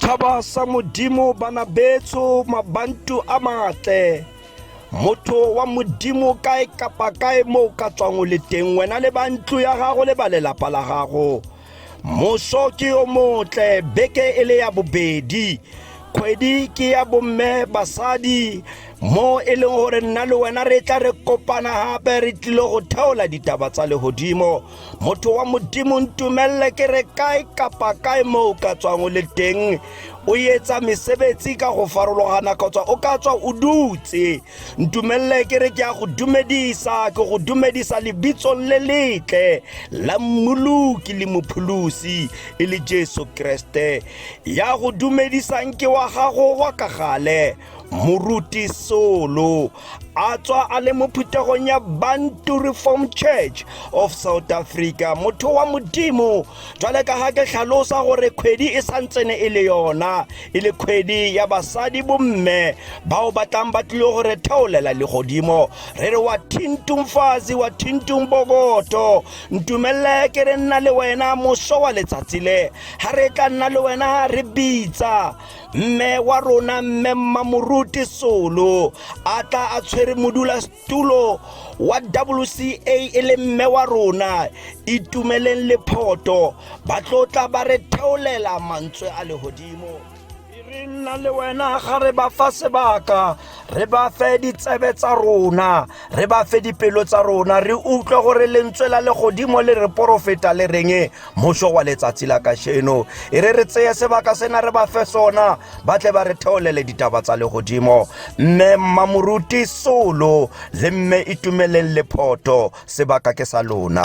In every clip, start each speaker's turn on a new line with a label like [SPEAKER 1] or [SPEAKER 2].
[SPEAKER 1] Thaba sa modimo bana betso mabantu a matle motho wa modimo kae kapa kae moo ka tswang o le teng wena le ba ntlo ya gago le ba lelapa la gago Moso ke yo motle beke e le ya bobedi kgwedi ke ya bomme basadi mo e leng gore nna le wena re tla re kopana gape re tlile go theola ditaba tsa legodimo motho wa modimo ntumelele ke re kae kapa kae mo o ka tswang o le teng o etsa mesebetsi ka go farologana kgotsa o ka tswa o dutse ntumelele ke re ke ya go dumedisa ke go dumedisa lebitsong le letle la mmoloki le mopholosi e le jesu kreste ya go dumedisang ke wa gago wa ka gale moruti solo a tswa a le mo phuthegong ya bantu reform church of south africa motho wa modimo Jwale ka ha ke hlalosa gore kgwedi e santsene e le yona e le kgwedi ya basadi bomme bao ba tlang ba tlile go re theolela legodimo re re wa thintung fazi wa thintung bokoto ntumelele ke re nna le wena moso wa letsatsi le ga re tla nna le wena re bitsa mme wa rona mme mmamoruti solo a tla a tshwere modula tulo wa WCA e le mme wa rona itumeleng lephoto ba tlotla ba re theolela mantswe a legodimo re nna le wena ga re ba fa sebaka re ba fe ditsebe tsa rona re ba fe dipelo tsa rona re utlwe gore lentswe la legodimo le re porofeta le reng Mošo wa letsatsi la kasheno e re re tseye sebaka sena re ba fe sona ba tle ba re theolele ditaba tsa legodimo mme mmamoruti solo le mme itumeleng lephoto sebaka ke sa lona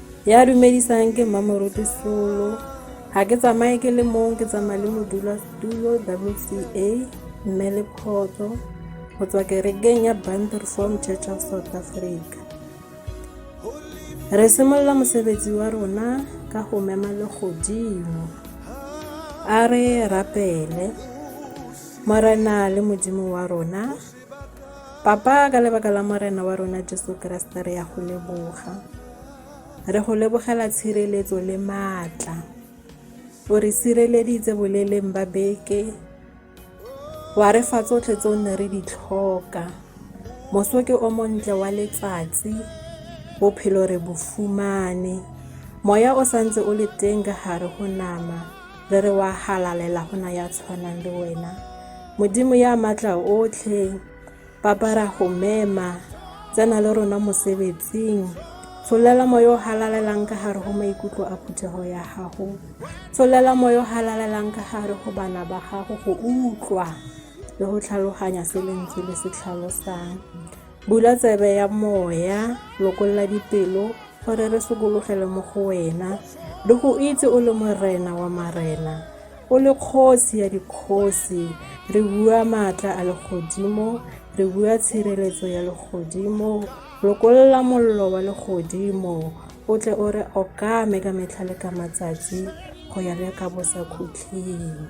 [SPEAKER 2] ya dumedisang ke mmamoruti solo ga ke tsamaye ke le mong ke tsamaya le modula tulo wca mme le kgotso go tswa kerekeng ya banderform church of south africa re simolola mosebetsi wa rona ka go mema le godimo a re rapele morena le modimo wa rona Papa, ka lebaka la Morena wa rona Jesu Kriste re ya go leboga. Re go lebogela tshireletso le maatla. O re sireleditse boleleng ba beke. Wa re fa tsotlhe tse o ne re di tlhoka. Moso ke o montle wa letsatsi. Bophelo re bo fumane. Moya o santse o le teng ka gare go nama. re re wa halalela go na ya tshwanang le wena modimo ya matla otlhe papa ra go mema tsena le rona mosebetsing tsholela moyo o halalelang ka gare go maikutlo a phuthego ya gago tsholela moyo o halalelang ka gare go bana ba gago go utlwa le go tlhaloganya se lentswe le se tlhalosang Bula tsebe ya moya, lokolla dipelo, gore re sokologele mo go wena, le go itse o le morena wa marena, o le kgosi ya dikgosi. Re bua maatla a legodimo, re bua tshireletso ya legodimo, lokolla mollo wa legodimo, o tle o re okame ka metlha le ka matsatsi, go ya le ka bosakhutleng.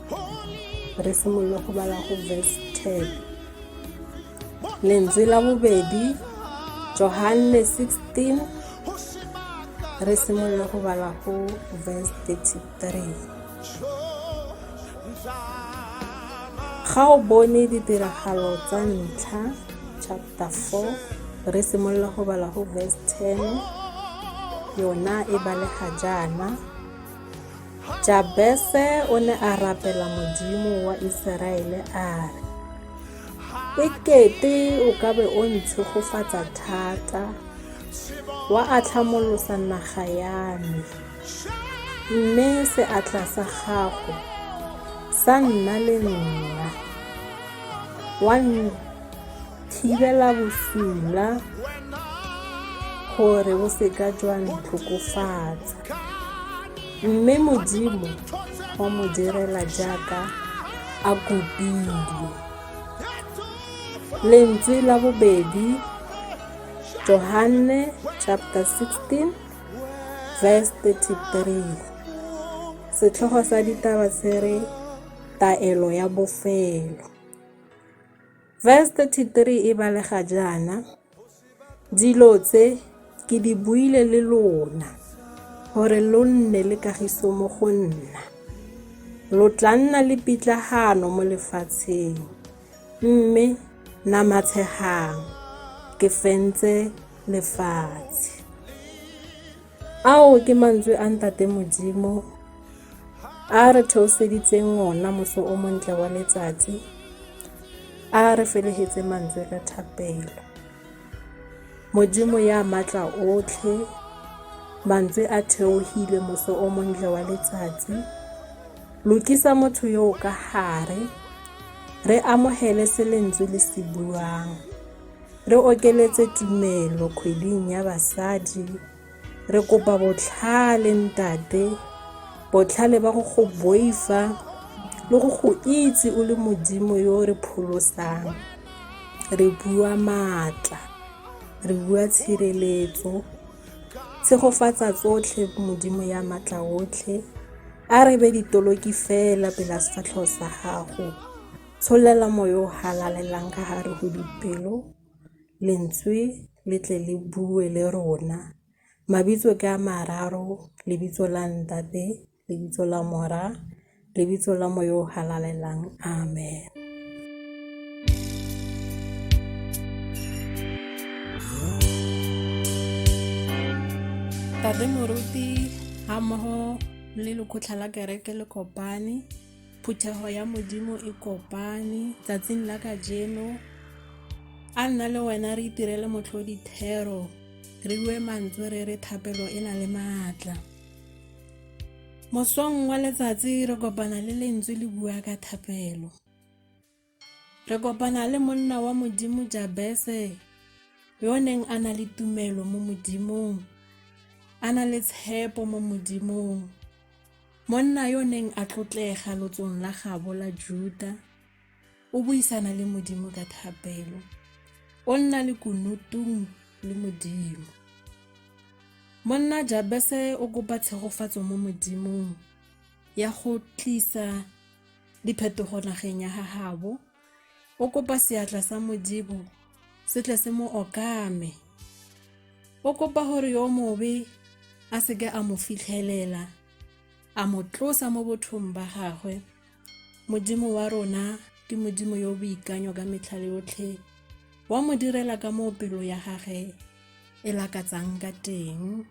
[SPEAKER 2] re simolola go bala go verse 10 lentswe la bobedi johanne 16 re simolola go bala go verse 33 ga o bone ditiragalo tsa ntlha chapter 4 re simolola go bala go verse 10 yona e balega jaana Jabese o ne a rapela Modimo wa Iseraele a re, E kete o ka be o ntshegofatsa thata, wa atlhamolosa naga ya me, mme seatla sa gago sa nna le nna, wa thibela bosula gore bo seka jwa ntlhokofatsa mme modimo wa mo direla jaaka a kopile lentswe la bobedi johanne chapter 16 verse 33 setlhogo sa ditaba se re taelo ya bofelo Verse-33 e balega jaana, Dilo tse ke di buile le lona, gore lo nne le kagiso mo go nna. Lo tla nna le pitlagano mo lefatsheng, mme namatshegang ke fentse lefatshe. Ao ke mantswe a Ntate Modimo a re theoseditseng ona moso o montle wa letsatsi a re felehetse mantswe ka thapelo modimo ya matla otlhe mantswe a theohile moso o montle wa letsatsi lokisa motho yo ka gare re amogele se lentswe le se buang Re okeletse tumelo kgweding ya basadi. Re kopa botlhale ntate, botlhale ba go go boifa le go go itse o le modimo yo re pholosang. Re bua maatla, re bua tshireletso, tshegofatsa tsotlhe modimo ya maatla otlhe. A re be ditoloki fela pela sefatlhego sa gago. Tsholela moya o halalelang ka gare go dipelo, lentswe le tle le bue le rona. Mabitso ke a mararo, lebitso la ntate, lebitso la mora, lebitso la moya o halalelang. Amen. Tate Moruti ha mmogo le lekgotlha la kereke le kopane Phuthego ya Modimo e kopane tsatsing la kajeno. A nna le wena re itirele motlhodi thero, re bue mantswe re re thapelo e na le maatla. Mosong wa letsatsi re kopana le lentswe le bua ka thapelo. Re kopana le monna wa Modimo Jabese, yo o neng a na le tumelo mo Modimong, a na le tshepo mo Modimong. Monna yo o neng a tlotlega lotsong la gabo la Juda, o buisana le Modimo ka thapelo. O nna le kunutung le Modimo. Monna Jabese o kopa tshegofatso mo Modimong ya go tlisa diphetogo nageng ya gagabo o kopa seatla sa modibo se tle se mo okame o kopa gore yo mobe a seke a mo fitlhelela a mo tlosa mo bothong ba gagwe modimo wa rona ke modimo yo boikanyo ka metlha yotlhe wa mo direla ka moo pelo ya gage e lakatsang ka teng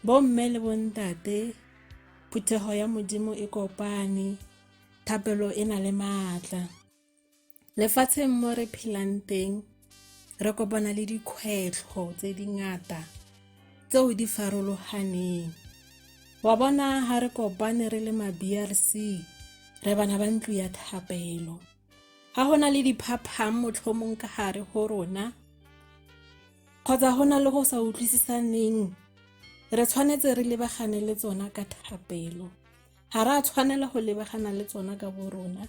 [SPEAKER 2] Bomme le bontate, phuthego ya Modimo e kopane, thapelo e na le maatla. Lefatsheng mo re phelang teng, re kopana le dikgwetlho tse di ngata tseo di farologaneng. Wa bona ha re kopane re le ma-BRC, re bana ba ntlo ya thapelo. Ha ho na le diphaphang motlhomong ka gare go rona, kgotsa go na le go sa utlwisisaneng re tshwanetse re lebagane le tsona ka thapelo ga re a tshwanela go lebagana le tsona ka bo rona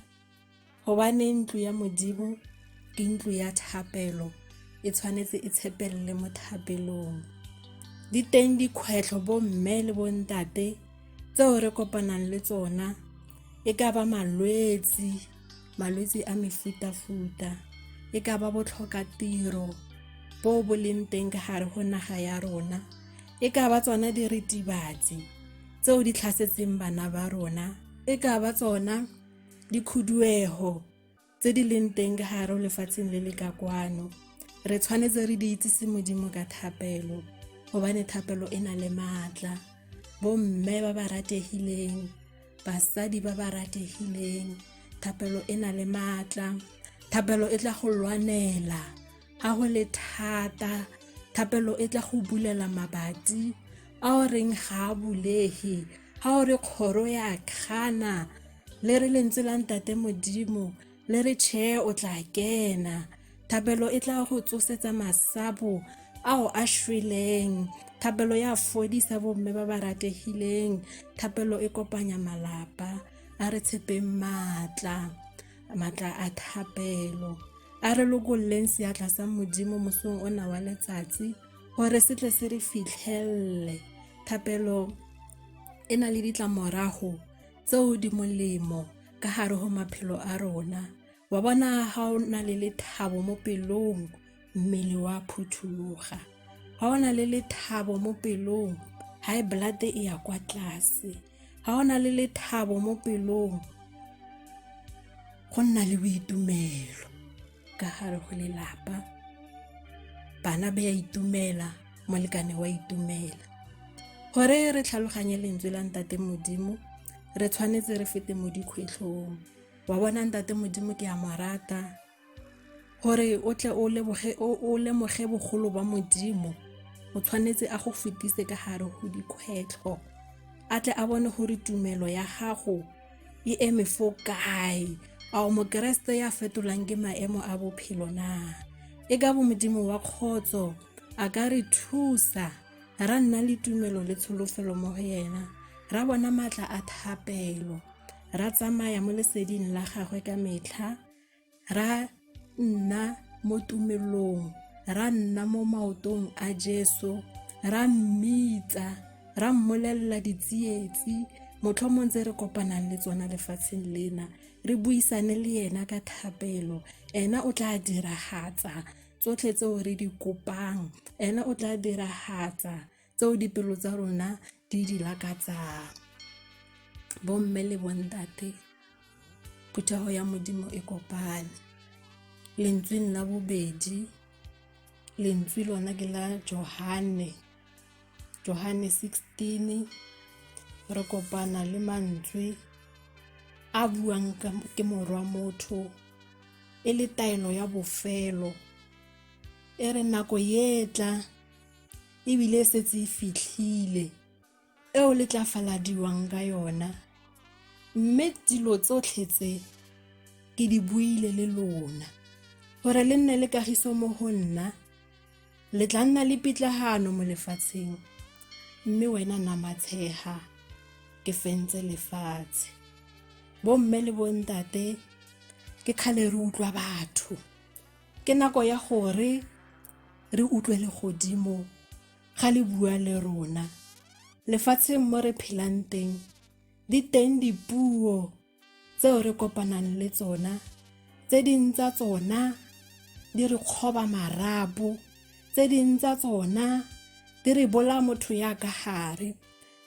[SPEAKER 2] gobane ntlo ya modimo ke ntlo ya thapelo e tshwanetse e tshepelele mo thapelong di teng dikgwetlho bomme le bontate tseo re kopanang le tsona e ka ba malwetse malwetse a mefuta-futa e ka ba botlhoka tiro bo bo leng teng ka gare go naga ya rona e ka ba tsona diritibatsi tseo di tlhasetseng bana ba rona e ka ba tsona dikhuduego tse di leng teng ka gare lefatsheng le le ka kwano re tshwanetse re di itsise modimo ka thapelo gobane thapelo e na le maatla bomme ba ba rategileng basadi ba ba rategileng thapelo e na le maatla thapelo e tla go lwanela ga go le thata thapelo e tla go bulela mabati a o reng ga a bulege ga o re kgoro ya kgana le re lentswe la ntate modimo le re tšhee o tla kena thapelo e tla go tsosetsa masapo ao a šweleng thapelo ya fodisa bomme ba ba rategileng thapelo e kopanya malapa a re tshepeng maatla maatla a thapelo a re lokolleng seatla sa modimo mosong o na wa letsatsi gore se tle se re fitlhelele thapelo e na le ditlamorago tseo di molemo ka gare go maphelo a rona wa bona ga o na le lethabo mo pelong mmele wa phuthuloga ga o na le lethabo mo pelong high blood e ya kwa tlase ga o na le lethabo mo pelong go nna le boitumelo ka gare go lelapa bana ba ya itumela molekane wa itumela gore re tlhaloganye lentswe la ntate modimo re tshwanetse re fete mo dikgwetlhong wa bona ntate modimo ke a mo rata gore o tle o lemoge bogolo ba modimo o tshwanetse a go fetise ka gare go dikgwetlho a tle a bone gore tumelo ya gago e eme fo kae a o mokeresete ya fetolang ke maemo a bophelo na e ka bo modimo wa kgotso a ka re thusa ra nna le tumelo le tsholofelo mo go yena ra bona maatla a thapelo ra tsamaya mo leseding la gagwe ka metlha ra nna mo tumelong ra nna mo maotong a jesu ra mmitsa ra mmolelela ditsietsi motlhomong tse re kopanang le tsona lefatsheng lena re buisane le yena ka thapelo ena o tla diragatsa tsotlhe tseo re di kopang ena o tla diragatsa tseo dipelo tsa rona di di lakatsang bomme le bontate phuthego ya modimo e kopane lentsweng la bobedi lentswe lona ke la johane johane 16 re kopana le mantswe a buang ke morwa motho e le taelo ya bofelo e re nako ye tla e bile e setse e fitlhile eo le tla faladiwang ka yona mme dilo tsotlhe tse ke di buile le lona gore le nne le kagiso mo go nna le tla nna le pitlagano mo lefatsheng mme wena namatshega ke fentse lefatshe bomme le bontate ke kgale re utlwa batho Ke nako ya gore re utlwe legodimo ga le bua le rona. Lefatsheng mo re phelang teng, di teng dipuo tseo re kopanang le tsona tse ding tsa tsona di re kgoba marapo tse ding tsa tsona di re bola motho ya ka gare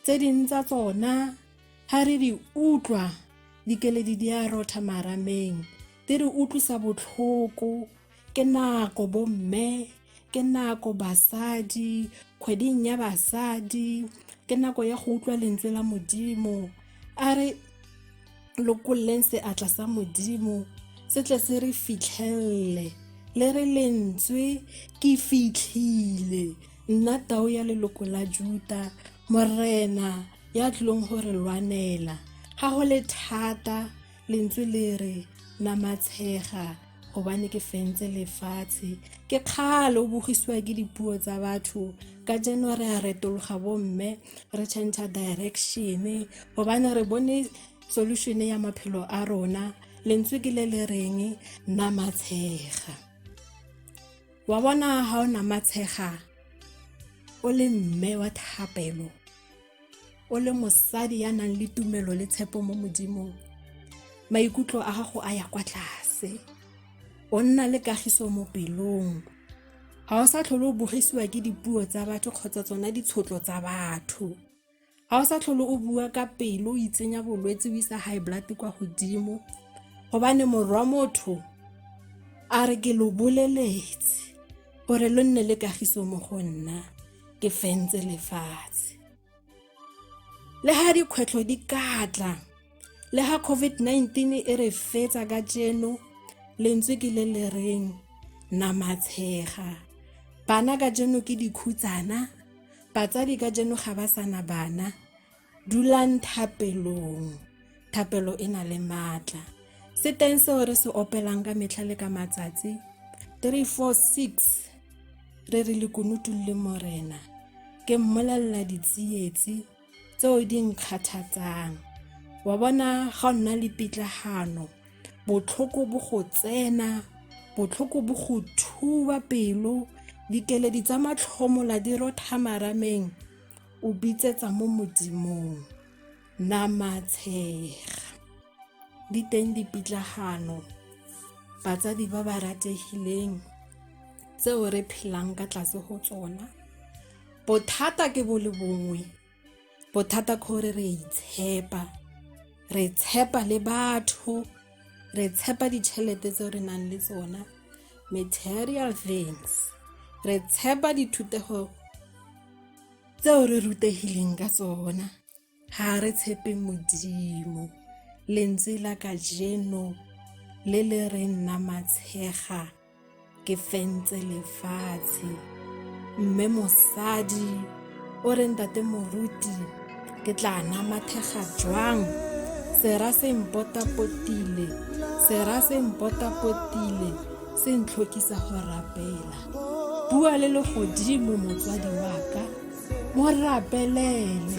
[SPEAKER 2] tse ding tsa tsona ga re di utlwa dikeledi di a rotha marameng di re utlwisa botlhoko ke nako bomme ke nako basadi kgweding ya basadi ke nako ya go utlwa lentswe la modimo a re lokololeng seatla sa modimo se tle se re fitlhelele le re lentswe ke fitlhile nna tao ya leloko la juta morena ya tlileng go re lwanela ga go le thata lentswe le re namatshega gobane ke fentse lefatshe ke kgale o bogisiwa ke dipuo tsa batho ka jeno re a retologa bomme re change direction gobane re bone solution ya maphelo a rona lentswe ke le le reng namatshega wa bona ga o namatshega o le mme wa thapelo o le mosadi ya nang le tumelo le tshepo mo modimong maikutlo a gago a ya kwa tlase o nna le kagiso mo pelong ga o sa tlhole o bogisiwa ke dipuo tsa batho kgotsa tsona ditshotlo tsa batho ga o sa tlhole o bua ka pelo o itsenya bolwetse o isa high blood kwa godimo gobane morwa motho a re ke lo boleletse gore lo nne le kagiso mo go nna ke fentse lefatshe le ga dikgwetlho di katla le ga covid-19 e re fetsa ka jeno lentswe ke le le reng namatshega bana ka jeno ke dikhutsana batsadi ka jeno ga ba sana bana Dulang thapelong. Thapelo e na le maatla. Se teng seo re se opelang ka metlha le ka matsatsi. 346 re re lekunutung le morena ke mmolelela ditsietsi tseo di nkgathatsang wa bona ga o nna le pitlagano botlhoko bo go tsena botlhoko bo go thuba pelo dikeledi tsa matlhomola di rotha marameng o bitsetsa mo modimong nama tshega di teng dipitlagano batsadi ba ba rategileng tseo re phelang ka tlase go tsona bothata ke bo le bongwe bothata kgore re itshepa re tshepa le batho re tshepa ditšhelete tse re nang le tsona material things re tshepa dithutego tseo re rutegileng ka tsona ga re tshepe modimo lentswe la kajeno le le re nna matshega ke fentse lefatshe mme mosadi o re ntate moruti ke tla namathega jwang sera se mpotapotile sera se mpotapotile se ntlhokisa go rapela bua le legodimo motswadi wa ka mo rapelele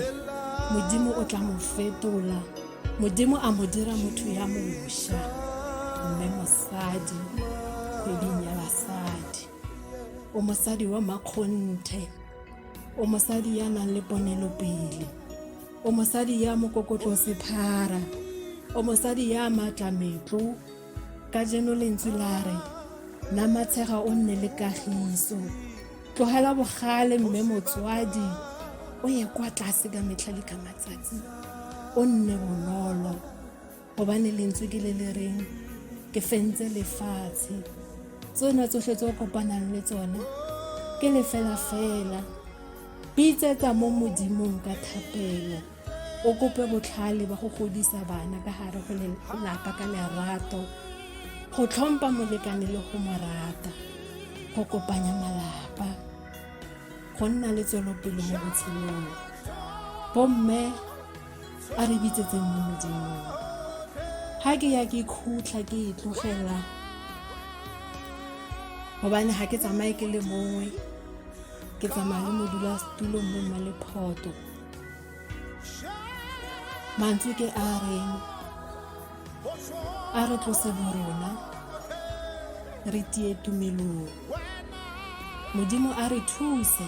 [SPEAKER 2] modimo o tla mo fetola modimo a mo dira motho ya mosha mme mosadi kgweding ya basadi o mosadi wa makgonthe o mosadi ya nang le ponelopele o mosadi ya mokokotlo sephara o mosadi ya maatla metlo ka jeno lentswe la re na matshega o nne le kagiso tlogela bogale mme motswadi o ye kwa tlase ka metlha le ka matsatsi o nne bonolo gobane lentswe ke le le reng ke fentse lefatshe tsona tsotlhe tse o kopanang le tsona ke lefela fela bitsetsa mo modimong ka thapelo o kope botlhale ba go godisa bana ka gare go lelapa ka lerato go tlhompha molekane le go mo rata go kopanya malapa go nna le tswelopele mo botshelong bomme a re bitsetse mme modimo ga ke ya ke khutlha ke e tlogela gobane ga ke tsamaye ke le mongwe ke tsamaya le modula setulo mme mma le photo mantswe ke a reng a re tlose borona re tie tumelong modimo a re thuse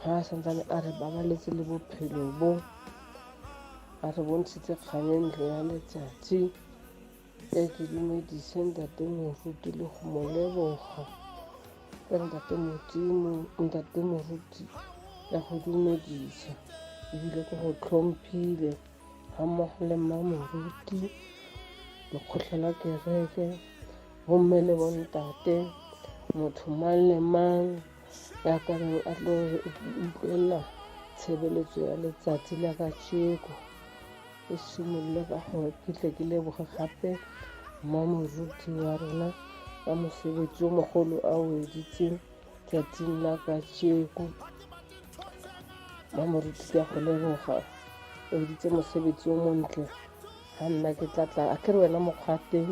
[SPEAKER 3] ga a santsane a re babaletse le bophelo bo a re bontshitse kgang e ntlo ya letsatsi e ke dumedise ntate moruti le go mo leboga ya ntate modimo ntate moruti ya go dumedisa ebile ke go tlhomphile ga mmogo le mma moruti lekgotlha la kereke bomme le bontate motho mang le mang ya ka reng a tlo utlwelela tshebeletso ya letsatsi la kacheko e simolole ka gore ke tle ke leboge gape mo moruti wa rona ka mosebetsi o mogolo a o editseng tsatsing la kacheko mo moruti ka go leboga o editse mosebetsi o montle ga nna ke tlatla a ke re wena mokgwa teng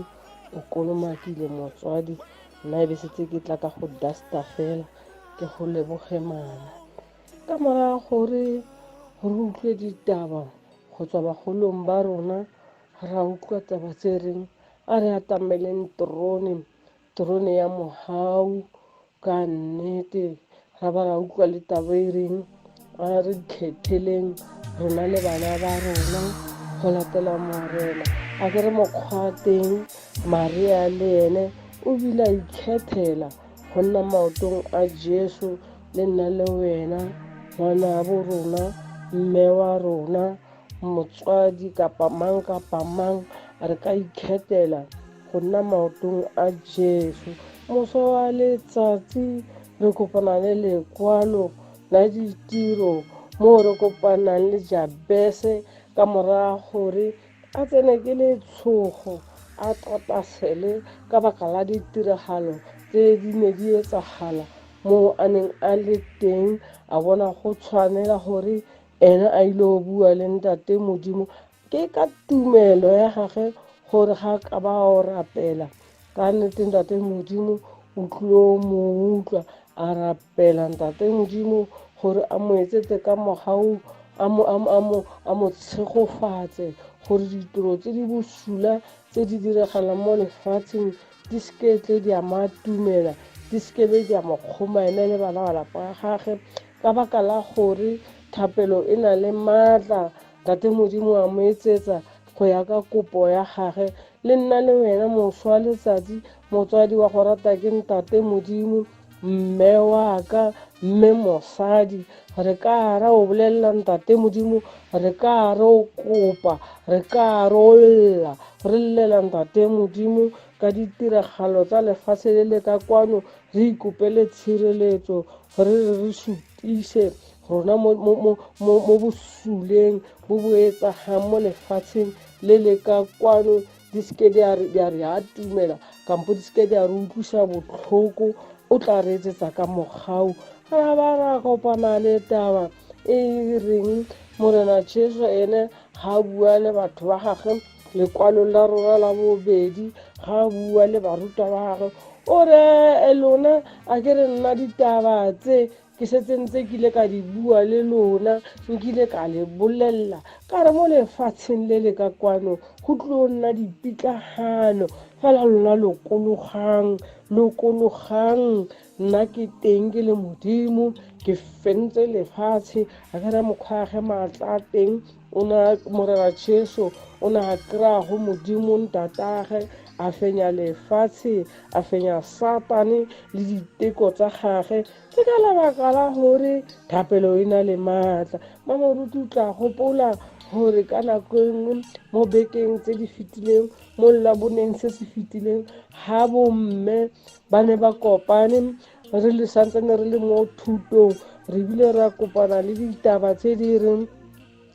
[SPEAKER 3] o kolomakile motswadi nna e be setse ke tla ka go dusta fela ke go leboge mama ka moraga gore re utlwe ditaba go tswa bagolong ba rona ra utlwa taba tse reng a re atameleng trone trone ya mohau ka nnete ga ba ra utlwa le tabo e reng a re kgetheleng rona le bana ba rona go latela morena a ke re mokgwa teng maria le ene o bile a ikgethela go nna maotong a jesu le nna le wena ngwana bo rona mme wa rona motswadi kapa mang kapa mang re ka ikgethela go nna maotong a Jesu. Moso wa letsatsi re kopana le lekwalo la ditiro mo re kopanang le Jabese ka morago gore a tsene ke letshogo a tlatasele ka baka la ditiragalo tse di ne di etsagala moo a neng a le teng a bona go tshwanela gore ene a ile go bua le ntate modimo ke ka tumelo ya gage gore ga ka ba o rapela ka nnete ntate modimo o tlo mo utlwa a rapela ntate modimo gore a mo etsetse ka mogau a mo tshegofatse gore ditiro tse di bosula tse di diragalang mo lefatsheng di seke tle di a matumela di sekebe di a mo kgoma ene le bana ba lapa gage ka baka la gore thapelo e na le maatla tate modimo a mo etsetsa go ya ka kopo ya gage le nna le wena moswa letsatsi motswadi wa go rata ke ntate modimo mme wa ka mme mosadi re ka ra o bolelela ntate modimo re ka re o kopa re ka re o lla re llela ntate modimo ka ditiragalo tsa lefatshe le le ka kwano re ikopele tshireletso re re re supise rona mo mo mo mo mo bosuleng bo bo etsagang mo lefatsheng le le ka kwano di seke di a re- di a re atumela kampo di seke di a re utlwisa botlhoko o tla re etsetsa ka mogau ra ba ra kopana le taba e e reng morena jesu ene ga a bua le batho ba gage lekwalong la rona la bobedi ga a bua le barutwa ba gage o re "Eh, lona a ke re nna ditaba tse ke setse ntse ke ile ka di bua le lona nkile ka le bolelela ka re mo lefatsheng le le ka kwano go tlo nna dipitlagano fela lona lokologang lokologang nna ke teng ke le modimo ke fentse lefatshe a ka ra mokgwage maatla a teng o ne a morera jesu o ne a kry-a go modimo ntatagage a fenya lefatshe a fenya satane le diteko tsa gage ke ka lebaka la gore thapelo e na le maatla mamoruti o tla gopola gore ka nako e nngwe mo bekeng tse di fetileng mo llaboneng se se fetileng ga bomme ba ne ba kopane re le santsane re le mo thutong re bile ra kopana le ditaba tse di reng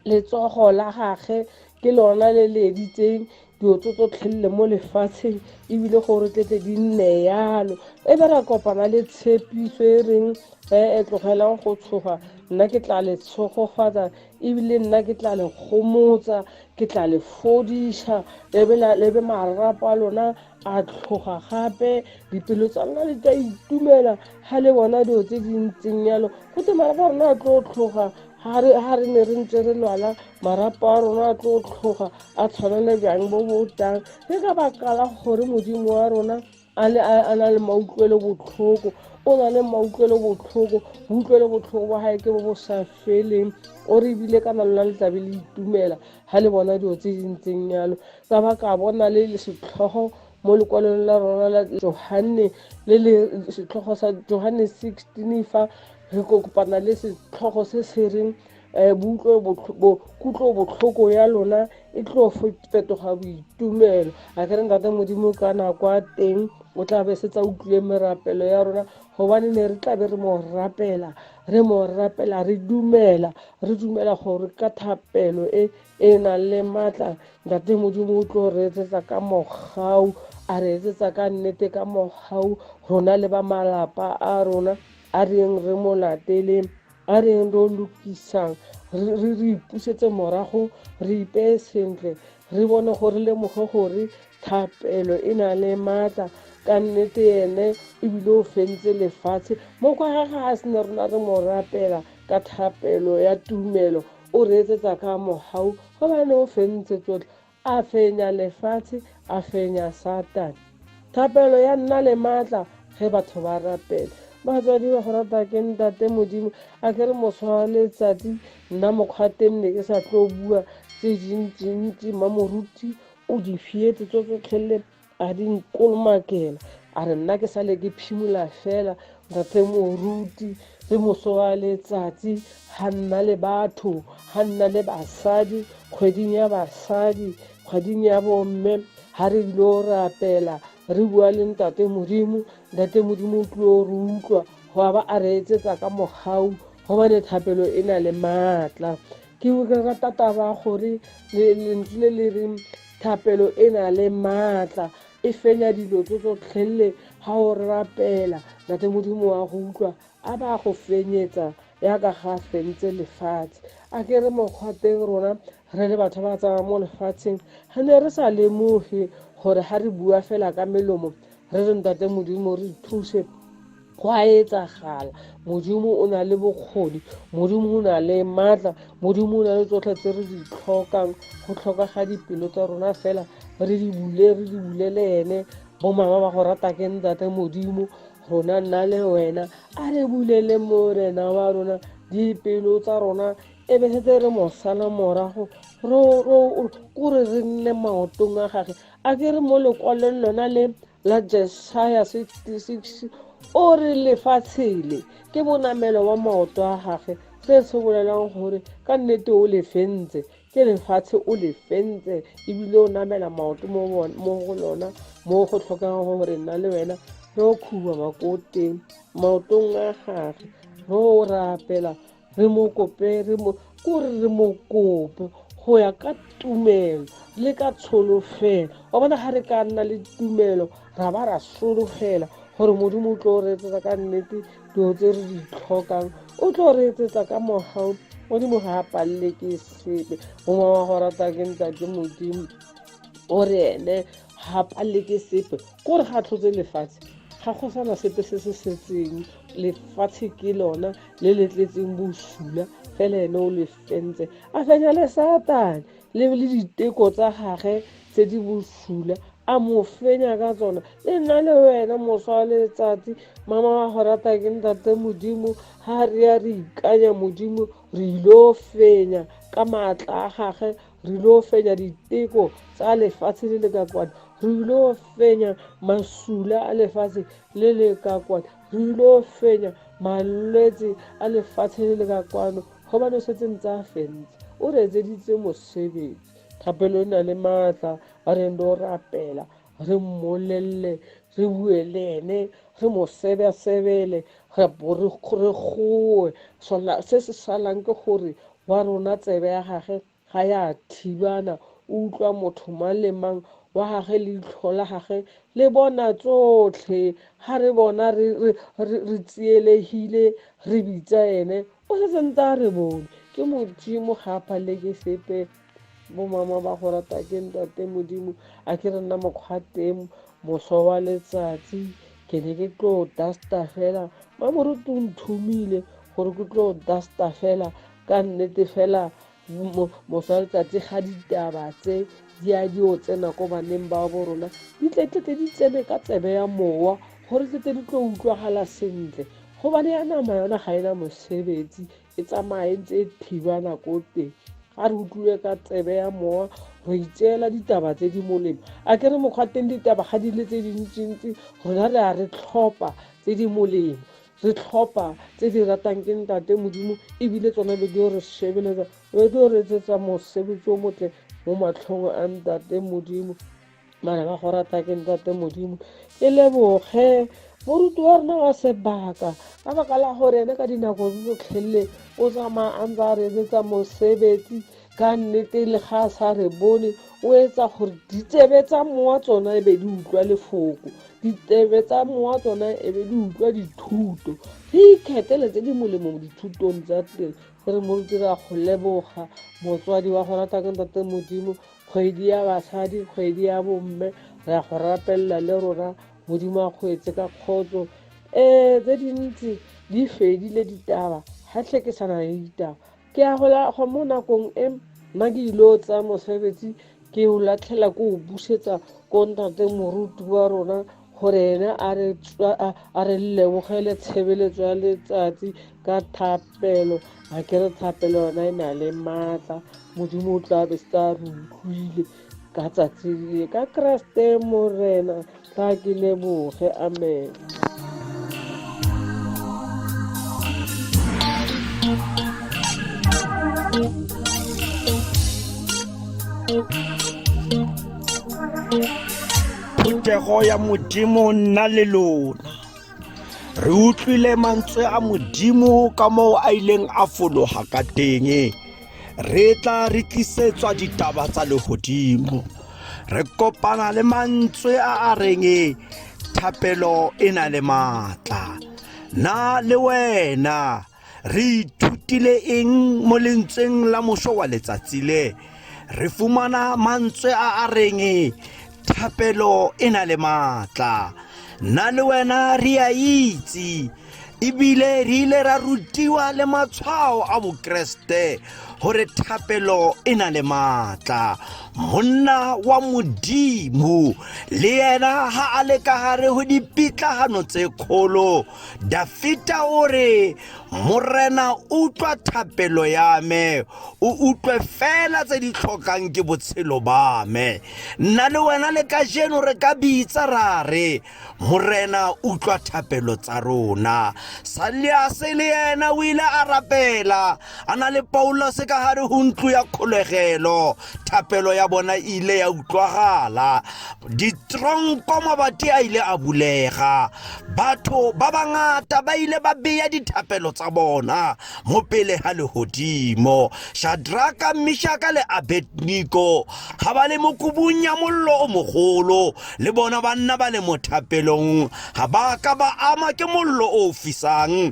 [SPEAKER 3] letsogo la gage ke lona le le editseng dilo tse tsotlhelele mo lefatsheng ebile gore tlete di nne yalo e be ra kopana le tshepiso e reng e e tlogelang go tshoga nna ke tla le tshogofatsa ebile nna ke tla le gomotsa ke tla le fodiša le be marapa lona a tlhoga gape dipelo tsa rona di tla itumela ga le bona dilo tse di ntseng yalo go te marapo a rona a tlo tlhoga ga re ne re ntse re lwala marapo a rona a tlo tlhoga a tshwana le jang bo botang ke ka baka la gore modimo wa rona a le a na le mautlwelo botlhoko o na le mautlwelo botlhoko boutlwelo botlhoko ba gae ke bo bo sa feleng o re ebile ka na lona le tlabe le itumela ga le bona dilo tse di ntseng yalo Sa ba ka bona le setlhogo mo lekwalong la rona la Johanne le le setlhogo sa Johanne 16 fa re kopana le setlhogo se se reng eh, kutlo botlhoko ya lona e tlo fetoga boitumelo a ke re ntate modimo ka nako a teng o tla be se tsa utlwile merapelo ya rona gobane ne re tla be re mo rapela re mo rapela re dumela re dumela gore ka thapelo e e na le matla ntate modimo o tlo re etsetsa ka mogau a re etsetsa ka nnete ka mogau rona le ba malapa a rona a reng re mo lateleng a reng re lokisang re re ipusetse morago re ipeye sentle re bone gore lemoge gore thapelo e na le maatla ka nnete ene ebile o fentse lefatshe mo kwa ga ga a sene rona re mo rapela ka thapelo ya tumelo O reetsetsa ka mogau gobane o fentse tsotlhe, a fenya lefatshe, a fenya Satane. Thapelo ya nna le maatla ge batho ba rapela. Batswadi ba go rata ke Ntate Modimo, a ke re moswa wa letsatsi nna mokgwateng ne ke sa tlo bua tse dintsi-ntsi, mmamoruti o di fietse tso tsotlhe le a di nkolomakela a re nna ke sale ke phimola fela rate moruti le moso wa letsatsi ga nna le batho ga nna le basadi kgweding ya basadi kgweding ya bomme ga re ile o rapela re bua le ntate modimo ntate modimo o tlile o re utlwa go a ba a re etsetsa ka mogau gobane thapelo e na le maatla ke rata taba gore lentswe le le reng Thapelo e na le maatla, e fenya dilo tso tsotlhelele ga o rapela. Nate Modimo wa go utlwa, a ba go fenyetsa yaka ga fentse lefatshe. A ke re mokgwa teng rona re le batho ba tsamaya mo lefatsheng, re ne re sa lemoge gore ga re bua fela ka melomo re re Ntate Modimo re thuse go a etsagala modimo o na le bokgoni modimo o na le maatla modimo o na le tsotlhe tse re di tlhokang go tlhoka ga dipelo tsa rona fela re di bule re di bulele ene bo mama ba go rata ke ntate modimo rona nna le wena a re bulele morena wa rona dipelo tsa rona e be setse re mo sala morago kore re nne maotong a gage a ke re mo lekwalong lona le la jesaya o re lefatshele ke bonamelo wa maoto a gage se se bolelang gore ka nnete o lefentse ke lefatshe o le fentse ebile o namela maoto mo go lona mo go tlhokang gore nna le wena re o khuba makoteng maotong a gage re o rapela re mo kope re mo ko re re mo kope go ya ka tumelo le ka tsholofelo wa bona ga re ka nna le tumelo ra ba ra solofela gore modimo o tlo re etsetsa ka nnete dilo tse re di tlhokang o tlo re etsetsa ka mogao modimo ga a palele ke sepe mongwe wa go rata ke ntate modimo o re ene ga palele ke sepe ko re ga tlhotse lefatshe ga go sana sepe se se setseng lefatshe ke lona le le tletseng bosula fela ene o le fentse a fenya le satane le le diteko tsa gage tse di bosula a mo fenya ka tsona le nna le wena moswa wa letsatsi mama wa go rata ke ntate modimo ga re ya re ikanya modimo re ilo fenya ka maatla a gage re ilo fenya diteko tsa lefatshe le le ka kwana re ilo fenya masula a lefatshe le le ka kwana re ilo fenya malwetse a lefatshe le le ka kwano gobane o setse ntse a fentse o re etseditse mosebetsi thapelo e na le maatla ba reng lo rapela re mmolelele re bue le ene re mo sebesebele re gore goe se se salang ke gore wa rona tsebe ya gage ga ya thibana o utlwa motho mang le mang wa gage leitlho la gage le bona tsotlhe ga re bona re tsielegile re bitsa ene o setse ntse a re bone ke modimo ga a palele ke sepe bomama ba go rata ke ntate modimo a ke re nna mokgwa teng moso wa letsatsi ke ne ke tlo dusta fela ba moruti o nthomile gore ke tlo dusta fela ka nnete fela moswa letsatsi ga ditaba tse di a di o tsena ko baneng ba bo rona di tletletle di tsene ka tsebe ya mowa gore tlete di tlo utlwagala sentle gobane ya nama yona ga ena mosebetsi e tsamaye ntse e thiba nako te ga re utlwile ka tsebe ya mowa re itseela ditaba tse di molemo a ke re mokgwa teng ditaba ga di le tse dintsintsi rona re a re tlhopha tse di molemo re tlhopha tse di ratang ke ntate modimo ebile tsone be di re shebeletsa be di re etsetsa mosebetsi o motle mo matlhong a ntate modimo bana ba go rata ke ntate modimo ke leboge moruti wa rona wa sebaka ka baka la gore ene ka dinako tsotlhelele o tsamaya a ntse a re etsetsa mosebetsi ka nnete le ga a sa re bone o etsa gore ditsebe tsa mowa tsona e be di utlwa lefoko ditsebe tsa mowa tsona e be di utlwa dithuto re ikgethele tse di molemo mo dithutong tsa teng re mo dira go leboga motswadi wa go rata ka ntate modimo kgwedi ya basadi kgwedi ya bomme re ya go rapelela le rona modimo a kgwetse ka kgotso um tse dintsi di fedile ditaba ga tlhe ke sana le ditaba ke ya go mo nakong e nna ke ile o tsaya mosebetsi ke o latlhela ko o busetsa ko ntate moruti wa rona gore ena a re tswa- a- a re lebogele tshebeletso ya letsatsi ka thapelo a ke re thapelo yona e na le maatla modimo o tla be se tla re utlwile ka tsatsi le ka keresete morena tla ke leboge amen
[SPEAKER 1] Phuthego ya Modimo nna le lona. Re utlwile mantswe a Modimo ka moo a ileng a fologa ka teng. Re tla re tlisetswa ditaba tsa legodimo. Re kopana le mantswe a a reng thapelo e na le maatla. Na le wena Re ithutile eng mo lentsweng la moso wa letsatsi le? Re fumana mantswe a a reng thapelo e na le maatla. Nna le wena re a itse ebile re ile ra rutiwa le matshwao a bokeresete gore thapelo e na le maatla monna wa modimo le yena ga a le ka gare go dipitlagano tse kgolo Dafita o re, Morena o utlwa thapelo ya me, o utlwe fela tse di tlhokang ke botshelo ba me. Nna le wena le ka jeno re ka bitsa ra re, Morena utlwa thapelo tsa rona. Saliase le ena o ile a rapela. a na le paulose ka gare go ntlo ya kgolegelo thapelo ya bona e ile ya utlwagala ditronko mabati a ile a bulega batho ba bangata ba ile ba beya dithapelo tsa bona mo pele ga legodimo shadraka mishaka le abedniko ga ba le mokobung ya mollo o mogolo le bona ba nna ba le mo thapelong ga ba ka ba ama ke mollo o fisang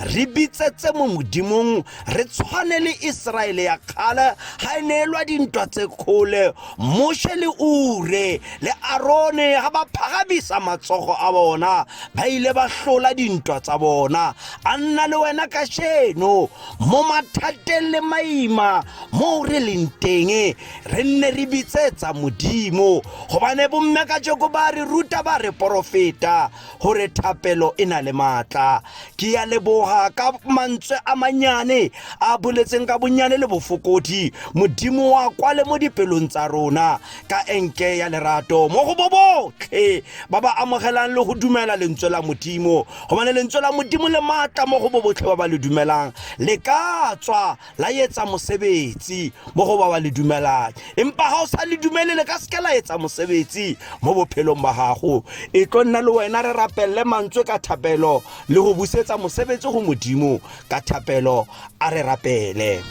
[SPEAKER 1] re bitsetse mo modimong re tshwane le iseraele ya kgale ga e neelwa dintwa tse kgole moshe le ure le arone ga ba phagamisa matsogo a bona ba ile ba hlola dintwa tsa bona a nna le wena ka sheno mo mathateng le maima mo re leng teng re nne re bitsetsa modimo gobane bomme ka jeko ba re ruta ba re porofeta gore thapelo e na le maatla ke ya leboga ka mantswe a manyane a boletseng ka bonnyane le bofokodi modimo wa kwa le mo dipelong tsa rona ka enke ya lerato mo go bobotlhe ba ba amogelang le go dumela lentswe la modimo gobane lentswe la modimo le maatla mo go bobotlhe ba ba le dumelang le ka tswa la etsa mosebetsi mo go ba wa le dumelang empa ga o sa le dumele le ka seke la etsa mosebetsi mo bophelong ba gago e tlo nna le wena re rapelele mantswe ka thapelo le go busetsa mosebetsi go modimo ka thapelo a re rapele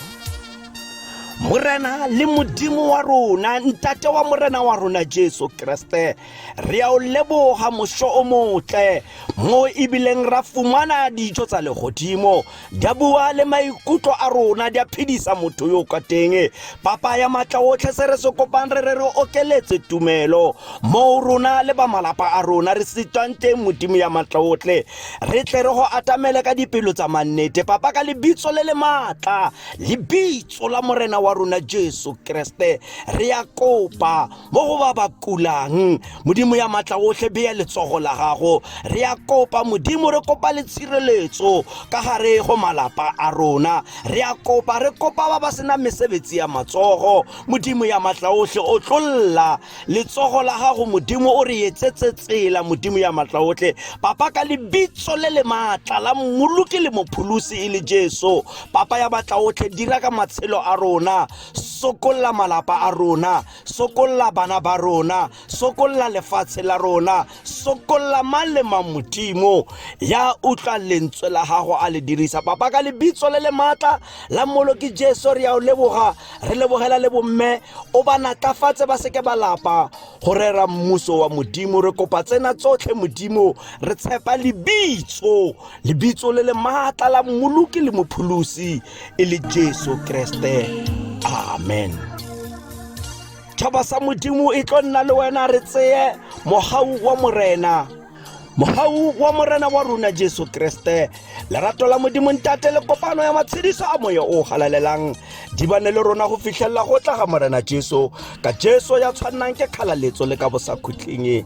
[SPEAKER 1] morena le modimo wa rona ntate wa morena wa rona jesu kreste re a o leboga mošo o motle mo ebileng ra fumana dijo tsa legodimo di a bua le maikutlo a rona di a phedisa motho yo kwa teng papa ya maatla otlhe se re se kopang re re re okeletse tumelo moo rona le ba malapa a rona re sitwang teng modimo ya maatla otlhe re tle re go atamele ka dipelo tsa mannete papa ka lebitso le le maatla lebitso la morena wa rona jesu kreste re ya kopa mo go ba ba kulang modimo ya matla otlhe beya letsogo la gago re ya kopa modimo re kopa le tshireletso ka gare go malapa a rona re ya kopa re kopa ba ba sena mesebetsi ya matsogo modimo ya matla otlhe o tlolla letsogo la gago modimo o re etsetse tsela modimo ya matla otlhe papa ka lebitso le le maatla la mmoloki le mopholosi e le jesu papa ya matla otlhe dira ka matshelo a rona sokolla malapa a rona sokolla bana ba rona sokolla lefatshe la rona sokolla mang le mang modimo ya utlwa lentswe la gago a le dirisa papa ka lebitso le le maatla la moloki jesu re ya o leboga re lebogela le bomme o ba natlafatse ba seke ba lapa go rera mmuso wa modimo re kopa tsena tsotlhe modimo re tshepa lebitso lebitso le le maatla la mmoloki le mopholosi e le jesu kreste amen tšhaba sa modimo e tlo nna le wena re tseye mogau wa morena mogau wa morena wa rona jesu kreste lerato la modimo ntate le kopano ya matshediso a moya o galalelang di bane le rona go fitlhelela go tla ga morena jesu ka jesu ya tshwannang ke kgalaletso le ka bosakhutleng